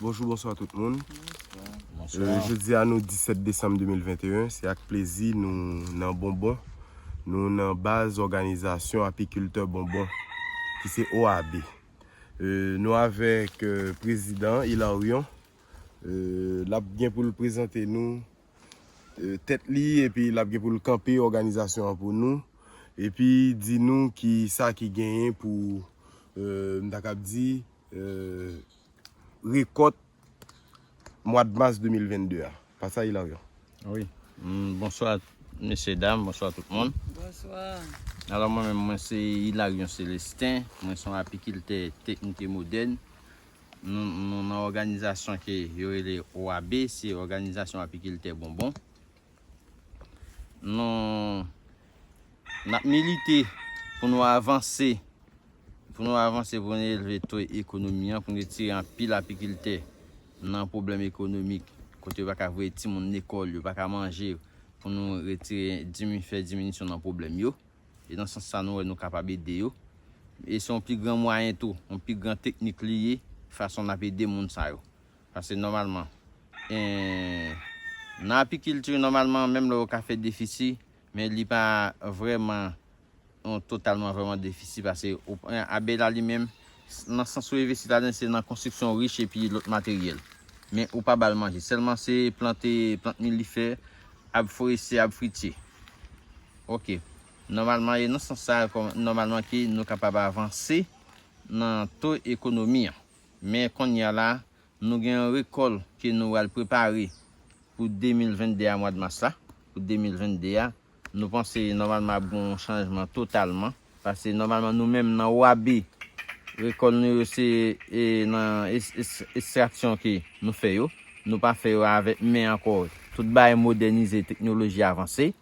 Bonjou bonswa tout moun Jodia nou 17 desanm 2021 se ak plezi nou nan bonbon Nou nan baz òganizasyon apikiltè bonbon ki se OAB Nou avèk prezidan Ilaryon Lap gen pou l prezante nou tèt li epi lap gen poul kanpe òganizasyon an pou nou epi di nou ki sa ki genyen pou m ta kab di rekòt mwad mas 2022 a pa sa Ilaryon? Wi bonswa mesye dam bonswa tout moun alò mwen menm mwen se Ilaryon Selestin mwen son apikiltè teknik e modèn Nou nan òganizasyon ke yo rele OAB, se òganizasyon apikiltè bonbon. Nou nap milite pou nou avanse, pou nou avanse pou nou elve to ekonomi an, pou nou retire anpil apikiltè nan pwoblèm ekonomik, kote yo pa ka voye timoun lekòl, yo pa ka manje, pou nou retire, fè diminisyon nan pwoblèm yo. E nan sans sa nou wè nou kapab ede yo. E se yon pi gran mwayen tou, yon pi gran teknik li ye, fason n ap ede moun sa yo. Pase nòmalman, nan apikilti nòmalman menm lè yo ka fè defisi, men li pa vrèman yon totalman vrèman defisi pase ou pran abèy la li menm, nan sans ou envesti ladan li se nan konstriksyon rich epi lòt materyèl. Men ou pa ba l manje. Sèlman se plante plant milifè, ab forestye, ab fritye. Ok. Nòmalman e nan sans sa a nòmalman ke nou kapab avanse nan to ekonomi an. Men kounye a la nou gen yon rekòl ke nou pral prepare pou 2022 a mwad mas la. Pou 2022 a nou panse nòmalman ap gen yon chanjman totalman. Pase nòmalman nou menm nan OAB rekòl nou yo se nan estraksyon ke nou fè yo. Nou pa fè yo avèk men ankò. Tout bagay modènize, teknoloji avanse.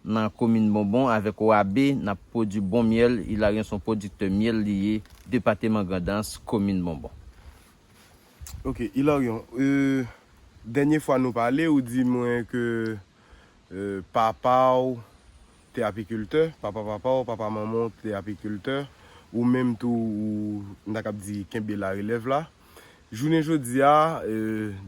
nan komin bonbon avèk OAB nap pwodwi bon myèl Ilaryon son pwodiktè myèl li ye depateman grandans komin bonbon. Ok Ilaryon euh dènye fwa nou pale ou di mwen ke papaw te apikiltè papa papaw papa manmanw te apikiltè ou menm tou ou m ta kap di kenbe larelèv la Jounen jodi a,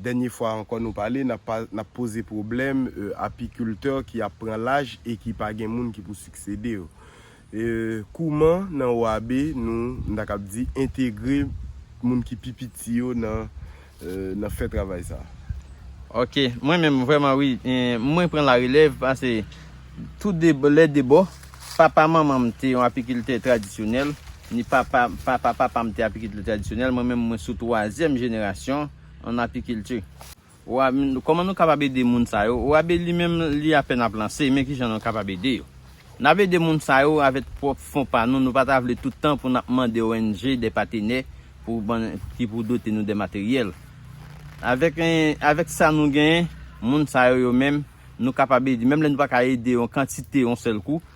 dènye fwa ankò nou pale, n ap poze pwoblèm apikiltè ki ap pran laj e ki pa gen moun ki pou siksede yo. Kouman nan OAB nou, m ta kab di, entegre moun ki pi piti yo nan fè travay sa a? Ok, mwen menm vrèman wi, mwen pran la relèv pase tou de lè de bò. Papa manman m te yon apikiltè tradisyonèl, Ni papa papa papa m te apikiltè tradisyonèl, mwen menm mwen sou twazyèm jenerasyon an apikilti. Wa, Kòman nou kapab ede moun sa yo? Wa, Be li menm li apèn ap lanse, men kijan nou kapab ede yo? N ap ede moun sa yo avèk pwòp fon pa nou, nou pa ta vle tout tan pou n ap mande ong de patenè pou ban ki pou dote nou de materyèl. Avèk avèk sa nou genyen, moun sa yo yo menm nou kapab ede, menm lè nou pa ka ede yon kantite yon sèl kou,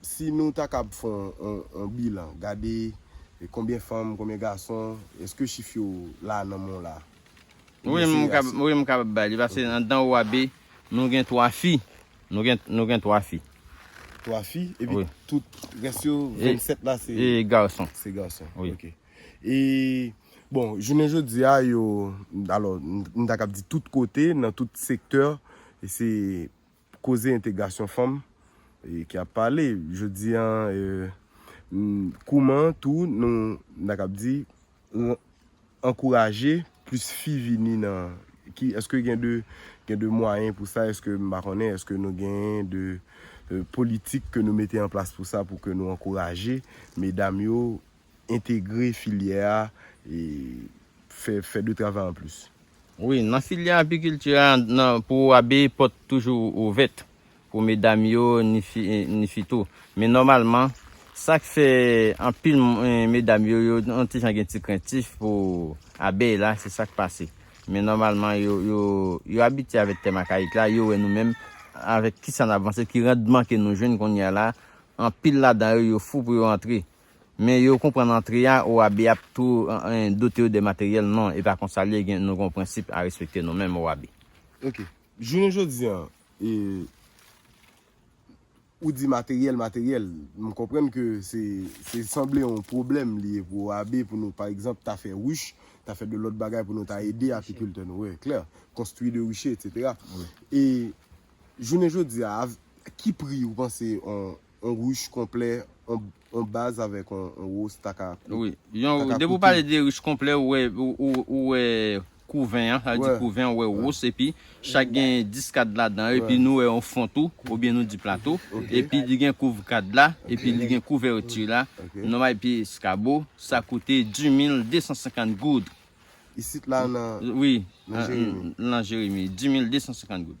Si nou ta kab fè yon bilan, gade konbyen fanm, konbyen gason, eske chif yo la nan men w la? Wi m kapab bay li paske andan OAB nou gen 3 fi. Nou gen 3 fi. 3 fi epi tout rès yo 27 la se gason. Se gason ok. E bon jounen jodi a yo alò m ta kab di tout kote nan tout sektè se. Koze entegrasyon fanm ki ap pale jodi an kouman tou nou ta kab di ankouraje plis fi vini nan ki eske gen de gen de mwayen pou sa eske m pa konnen eske nou gen de politik ke nou mete an plas pou sa pou ke nou ankouraje medam yo entegre filyè a e fè de travay an plis. Wi, nan filyè apikilti a, pou abeye pòt toujou ouvèt pou medam yo ni fi tou. Men nòmalman, sa k fè anpil medam yo yo yon ti jan gen ti krentif pou abèy la, se sa k pase. Men nòmalman yo abitye avèk tèm akayik la, yo wè nou menm avèk kisa n ap vanse, ki randman ke nou jwenn kounye a la, anpil ladan yo yo fou pou yo antre. Men yo konprann antre a Owabe ap tou dote yo de materyèl non e pa konsa li ye gen nou gen yon prensip a respekte nou menm Owabe. Ok jounen jodi an e ou di materyèl materyèl m konprann ke se se sanble yon pwoblèm li ye pou Owabe pou nou pa egzanp ta fè ruche ta fè de lòt bagay pou nou ta ede apikiltè nou wi klè konstwi de ruche etc e jounen jodi a avk ki pri ou panse yon On ruche konplè on baz avèk on rose ta ka koute. Wi. Yon, depi ou pale de ruche konplè ou wè, ou wè kouven an, sa vle di kouven ou wè rose epi chak gen 10 kad ladan yo epi nou wè on fon tou oubyen nou di plato epi li gen kouvre kad la epi li gen couverture la nòmal epi eskabo sa koute di mil de san senkant goud. Isit la nan Jeremi? Wi, nan Jeremi, di mil de san senkant goud.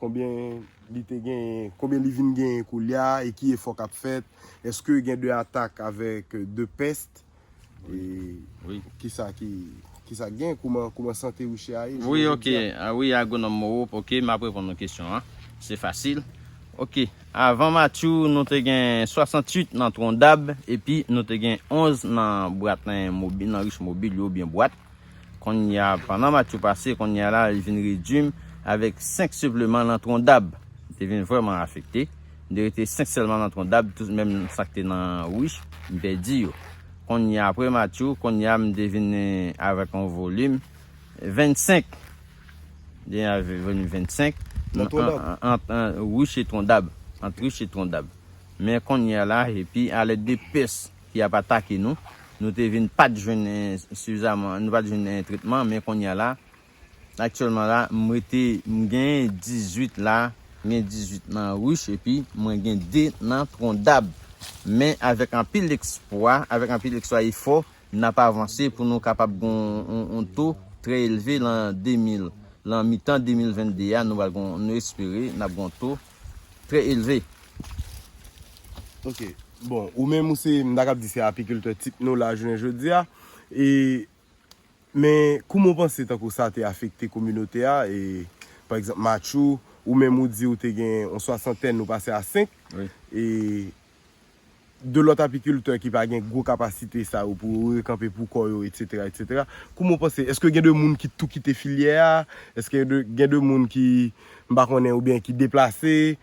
Konbyen li te genyen, konbyen li vin genyen koulya e ki efò k ap fèt? Eske gen de atak avèk de pèst? E kisa ki genyen? Kouman sante Riche a ye jounen jodi a? Wi Agwonòm Moreau, ok, m ap reponn ou kesyon an. Se fasil. Ok, avan Matyou, nou te gen 68 nan Twondab epi nou te gen 11 nan Bwat nan Riche Mobil yo oubyen Bwat. Konnya pandan match yo pase konnya la li vin redwi m avèk 5 sepleman nan tron dab m te vin vrèman afekte m te rete 5 sèlman nan tron dab tout menm sa k te nan wich m pèdi yo konnya aprè match yo konnya m te vin avèk yon volim 25 m te vin avèk yon volim 25 nan tron dab ant wich e tron dab ant wich e tron dab men konnya la epi a lèd de pès. ki ap atake nou, nou te vin pat jwenn sifizaman, nou pat jwenn tretman men kounya la aktyèlman la m rete m gen 18 la, m gen 18 nan Rush epi mwen gen 2 nan Trondab men avèk anpil ekspwa, avèk anpil ekspwa efò n ap avanse pou nou kapab gen yon to trè elve lan 2000, lan mitan 2022 a nou pral gen yon, nou espere n ap gen yon to. Très élevé. Ok, bon, ou menm ou se, m ta kab di se apikiltè tip nou la jounen jodi a, e, men, kouman w panse tankou sa te afekte kominote a, e, pa egzanp Matchou, ou menm ou di ou te gen yon swasantèn ou pase a 5, e, 2 lòt apikiltè ki pa gen gwo kapasite sa yo pou yo rekanpe pou kò yo etsetera etsetera kouman ou panse eske gen de moun ki tou kite filyè a eske gen de moun ki m pa konnen oubyen ki deplase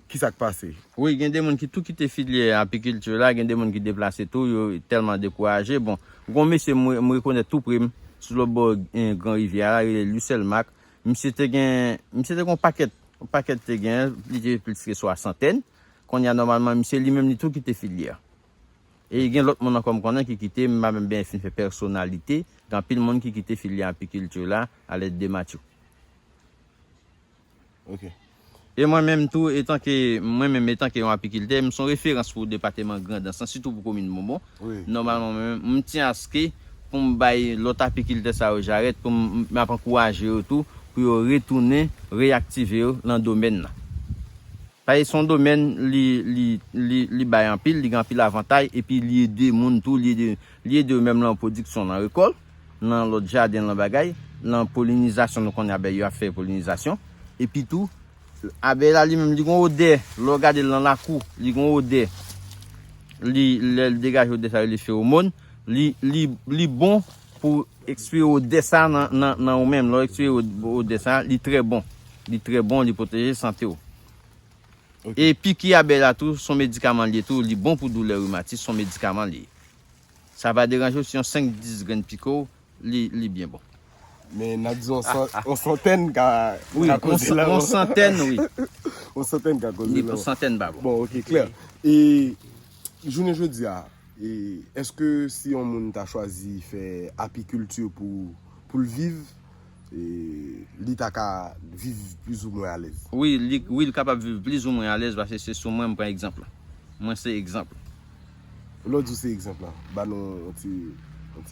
kisa k pase. Wi gen de moun ki tou kite filyè apikilti la gen de moun ki deplase tou yo tèlman dekouraje bon gon mesye m rekonèt tou pre m sou lòt bò gran rivyè a la rele Lucèl Marc misye te gen misye te gen yon pakèt yon pakèt te gen li te plis ke swasantèn Kounye a nòmalman m se li menm li tou kite filiè a. E gen lòt moun ankò m konnen ki kite, m pa menm benyen fin fè pèsonalite, gen anpil moun ki kite filiè apikilti la a lèd de Matthew. Ok. E mwen menm tou etanke mwen menm etanke yon apikiltè, m son referans pou depateman Grandans lan sitou pou komin Bonbon. Nòmalman mwen menm m tyen aske pou m bay lòt apikiltè sa yo jarèt pou m m ap ankouraje yo tou pou yo retounen reyaktive yo lan domèn nan. Paske se yon domèn li bay anpil, li gen anpil avantay epi li ede moun tou, li ede yo menm lan pwodiksyon lan rekòl, lan lòt jaden lan bagay, lan polinizasyon nou konnen abèy yo ap fè polinizasyon epi tou abèy la li menm li gen yon odè lè w gade l lan lakou li gen yon odè li lè l degaje odè sa yo rele fewomòn li bon Pou ekspire odè sa nan ou menm, lè w ekspire odè sa, li trè bon, li trè bon, li pwoteje sante w. E piki abèy la tou, son medikaman li ye tou, li bon pou doulè rimatis, son medikaman li ye. Sa pa deranje w si yon 5, 10 grenn pike w, li byen bon. Men nan di yon santèn ka koze lanmò. Yon santèn wi. Yon santèn ka koze lanmò. Yon santèn pa bon. Bon ok, klè. E Jounen jodi a, èske si yon moun ta chwazi fè apikilti pou l viv, li ta ka viv plizoumwen alèz? Wi, li kapab viv plizoumwen alèz paske se sou mwen m pran egzanp la. Mwen se egzanp la. Lè w di w se egzanp la, ba nou yon ti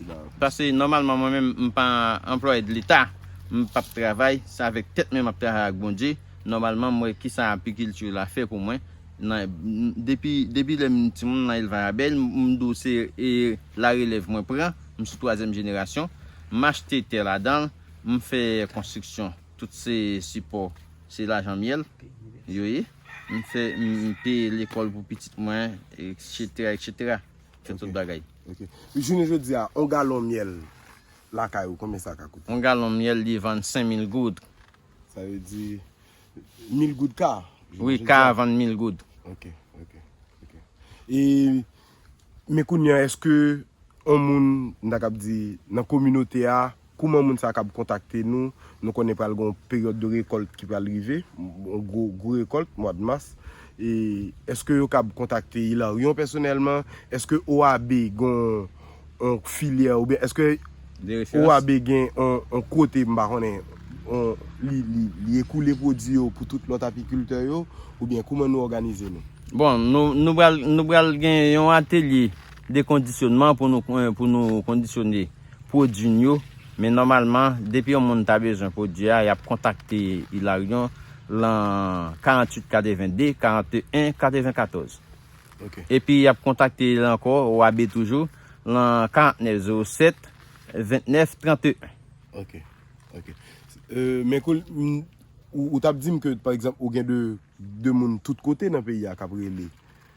bagay. Paske nòmalman mwen menm m pa anplwaye de leta, m p ap travay, se avèk tèt mwen m ap travay ak Bondye. Nòmalman m wè kisa apikilti la fè pou mwen. Depi lè m timoun m nan elvay abèy, m di w se la relèv mwen pran, m sou twazyèm jenerasyon. M achte tè ladan l, m fè konstriksyon. Tout se sipò, se lajan myèl yo ye. M fè, m peye lekòl pou pitit mwen, eksetera, eksetera. M fè tout bagay. Ok. Jounen jodi a, yon galon myèl lakay ou, konbyen sa ka koute? Yon galon myèl li vann senmil goud. Sa vle di, Mil goud ka a? Wi ka a vann mil goud. Ok, ok, ok. E men kounye a eske yon moun m ta kab di nan kominote a kouman moun sa a kab kontakte nou? Nou konnen pral gen yon peryòd de rekòlt ki pral rive, yon gwo gwo rekòlt mwa de mas. E eske yo kab kontakte Hilarion pèsonèlman? Eske OAB gen yon On filyè ou byen eske OAB gen on kote m pa konnen on li ekoule pwodui yo pou tout lòt apikiltè yo ou byen kouman nou òganize nou? Bon nou pral nou pral gen yon atelye de kondisyonman pou nou pou nou kondisyone pwodui n yo men nòmalman depi yon moun ta bezwen pwodui a y ap kontakte Ilaryon lan 48 82 41 94. epi y ap kontakte l ankò, OAB toujou, lan 49 07 29 31. Ok. Men kou ou t ap di m ke pa egzanp ou gen de moun tout kote nan peyi a k ap rele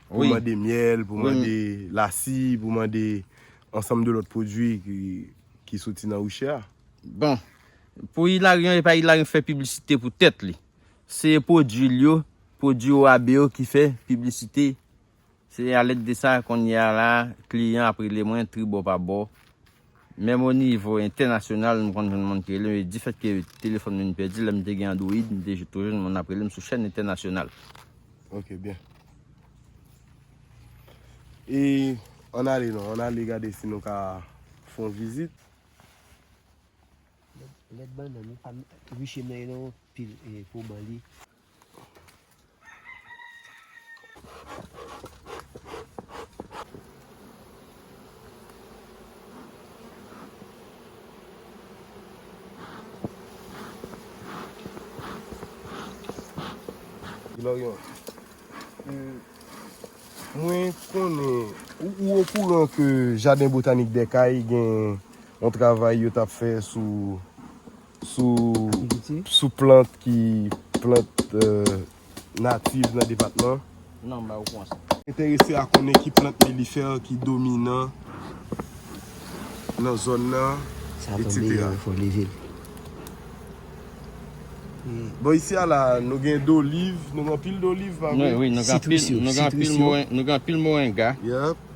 pou mande myèl, pou mande lasi, pou mande ansanm de lòt pwodui ki soti nan Russia. Bon, pou Hilarion e pa Hilarion k fè piblisite pou tèt li. Se pwodwi l yo, pwodwi OAB yo ki fè piblisite. Se alèd de sa, kounye a la, kliyan ap rele mwen tribò pa bò. Menm onivo entènasyonal, m konn jwenn moun ki rele m. E difètke telefòn m vin pèdi, lè m te gen Android, m te toujou jwenn moun ap rele m sou chèn entènasyonal. Ok byen. E ann ale non, ann ale gade si nou ka fè yon vizit. Lèt bannann wi pa riche men non pil po ban li. Ilaryon Mwen konnen ou okouran ke jaden botanik dèkay gen Yon travay yo tap fè sou sou plant ki plant natif nan depatman. Non ba ou pwan sa. Entèrese a konnen ki plant milifer ki dominan nan zòn nan etc. Bon isi a la nou gen doliv, nou gen anpil doliv pa vre? Sitris yo, sitris yo. Nou gen anpil morenga.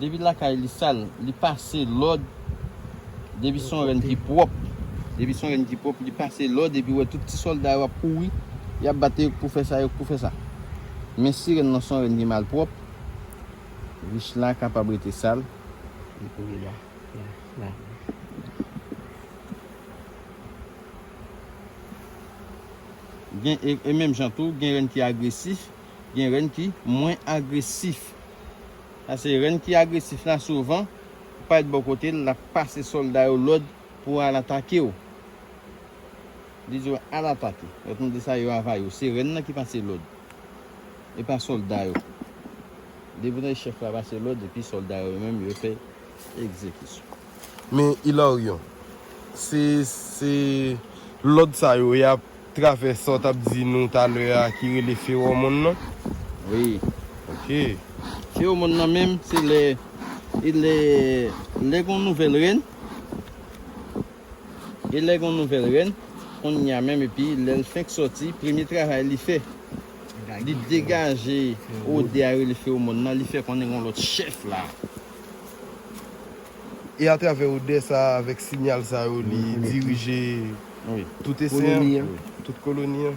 Depi lakay li sal li pase lòd depi son rèn ki pwòp depi son rèn ki pwòp li pase lòd epi wè tout ti sòlda yo ap kouri yap bat yo pou fè sa yo k pou fè sa men si rèn lan son rèn ki malpwòp rich la kapab rete sal li kouri la la la la. Gen e menm jan tou gen rèn ki agresif gen rèn ki mwen agresif. Sa se rèn ki agresif la souvan ou pa ret bò kote l lap pase sòlda yo lòd pou al atake w li di w al atake lòt moun di sa yo ava yo se rèn nan ki pase lòd e pa sòlda yo depi w tande chèf la pase lòd epi sòlda yo yo menm yo fè egzekisyon. Men Ilaryon se se lòd sa yo yap. Travè sa w t ap di nou talè a ki rele fewòmon nan? Wi. Ok. Fewòmon nan menm se lè e lè lè gen yon nouvèl rèn e lè gen yon nouvèl rèn kounye a menm epi lè l fenk sòti premye travay li fè li degaje odè a rele fewòmon nan li fè konnen gen yon lòt chèf la. E atravè odè sa a, avèk sinyal sa yo li dirije tout esen an, tout koloni an.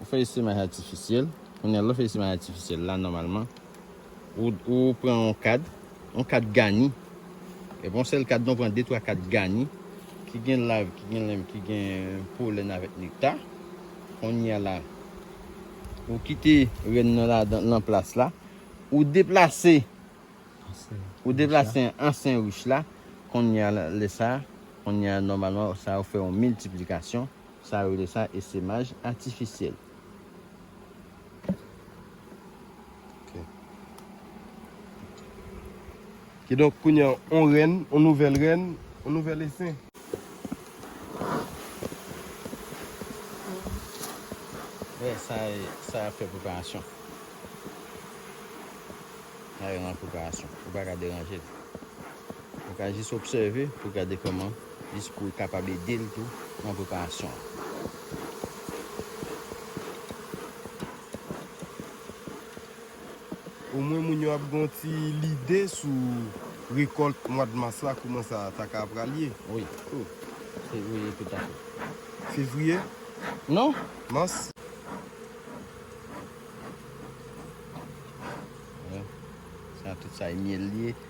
Ou fè estreman atifisyèl, kounye a lè w fè estreman atifisyèl la nòmalman ou pran yon kad, yon kad gani, epi yon sèl kad non, ou pran de twa kad gani ki gen lav, ki gen lèm, ki gen polèn avèk nekta, kounye a la ou kite rèn nan ladan nan plas la, ou deplase ou deplase ansyen rich la, kounye a lè sa, kounye a nòmalman sa ou fè yon miltiplikasyon. Sa yo rele sa esemaj atifisyèl. Kidonk, kounye a, yon rèn, yon nouvèl rèn, yon nouvèl esen. Wè, sa y, sa y ap fè preparasyon. Sa y ap fè preparasyon. Ou pa ka deranje l. Ou ka jis obsève pou gade kòman jis pou kapab ede l tou nan preparasyon an. Omwen moun yo ap gen yon ti lide sou rekòlt mwad mas la kouman sa ta ka pral ye. Wi. Fevriye tout a fèt. Fevriye? Non. Mas. Sa tout sa e myèl li ye.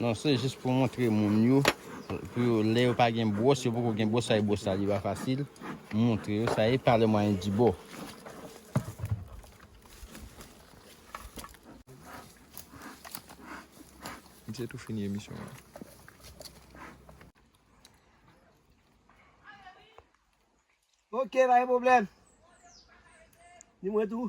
Non se jis pou montre moun yo pou yo lè yo pa gen bwòs yo poko gen bwòs fè bwòs la li pa fasil montre yo sa e pa le mwayen di bò. Misye tou fini emisyon an. Ok pa gen problem. Ni mwen tou.